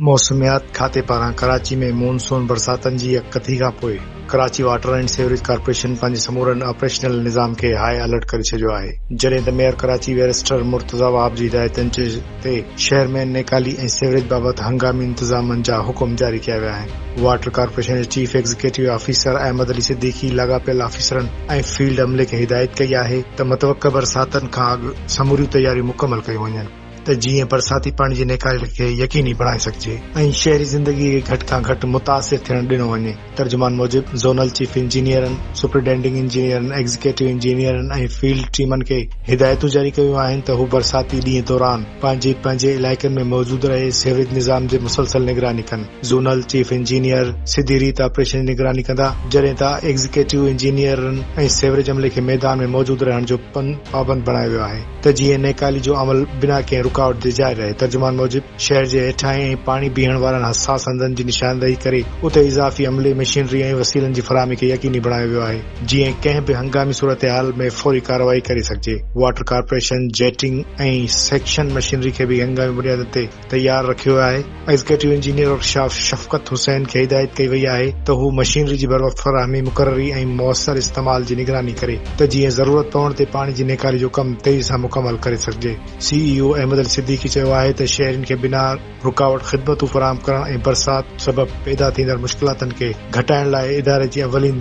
موسميات کاتي پاران ڪراچي ۾ مون سون برساتن جي يڪڪٿي کانپوء Karachi water and sewerage corporation پنهنجي سمورن آپريشنل نظام کي هاء الرٽ ڪري ڇڏيو آهي جڏهن ته ميئر ڪراچي بيرسٽر مرتضيٰ وهاب جي هدايتن تي شهر ۾ نيڪالي ۽ سيوريج بابت هنگامي انتظامن جا حڪم جاري ڪيا ويا آهن واٽر ڪارپوريشن جي chief executive officer Ahmed Ali Siddiqui لاڳاپيل آفيسرن ۽ فيلڊ عملي کي هدايت ڪئي آهي ته متوقع برساتن کان اڳ سموريون تياريون مڪمل ڪيون وڃن. ته جيئن برساتي پاڻي جي نيڪالي کي يقيني بڻائي سگهجي ۽ شهري زندگي کي گهٽ کان گهٽ متاثر ٿيڻ ڏنو وڃي. ترجمان موجب زونل چيف انجنيئرن، سپرنٽينڊنگ انجنيئرن، ايگزيڪيٽو انجنيئرن ۽ فيلڊ ٽيمن کي هدايتون جاري ڪيون آهن ته هو برساتي ڏينهن دوران پنهنجي پنهنجي علائقن ۾ موجود رهي سيوريج نظام جي مسلسل نگراني ڪن. زونل چيف انجنيئر سڌي ريت آپريشن جي نگراني ڪندا جڏهن ته ايگزيڪيٽو انجنيئرن ۽ سيوريج عملي کي ميدان ۾ موجود رهڻ جو پابند بڻايو ويو آهي. ته جيئن نيڪالي جو عمل بنا ڪنهن رڪاوٽ جي جاري رهي. ترجمان موجب، شهر جي هيٺاهين ۽ پاڻي بيهڻ وارن حساس هنڌن جي نشاندهي ڪري اتي اضافي عملي، مشينري ۽ وسيلن جي فراهمي کي يقيني بڻايو ويو آهي، جيئن ڪنهن به هنگامي صورتحال ۾ فوري ڪارروائي ڪري سگهجي. Water corporation jetting ۽ suction machinery کي به هنگامي بنيادن تي تيار رکيو آهي، executive engineer workshop Shafqat Hussain کي هدايت ڪئي وئي آهي ته هو مشينري جي بروقت فراهمي، مقرري ۽ موثر استعمال جي نگراني ڪري ته جيئن ضرورت پوڻ تي پاڻي جي نيڪاري جو ڪم تيزي سان مڪمل ڪري سگهجي. سي اي او احمد علي صديقي چيو آهي ته شهرين کي بنا رڪاوٽ خدمتون فراهم ڪرڻ ۽ برسات سبب پيدا ٿيندڙ مشڪلاتن کي گهٽائڻ لاء اداري جي اولين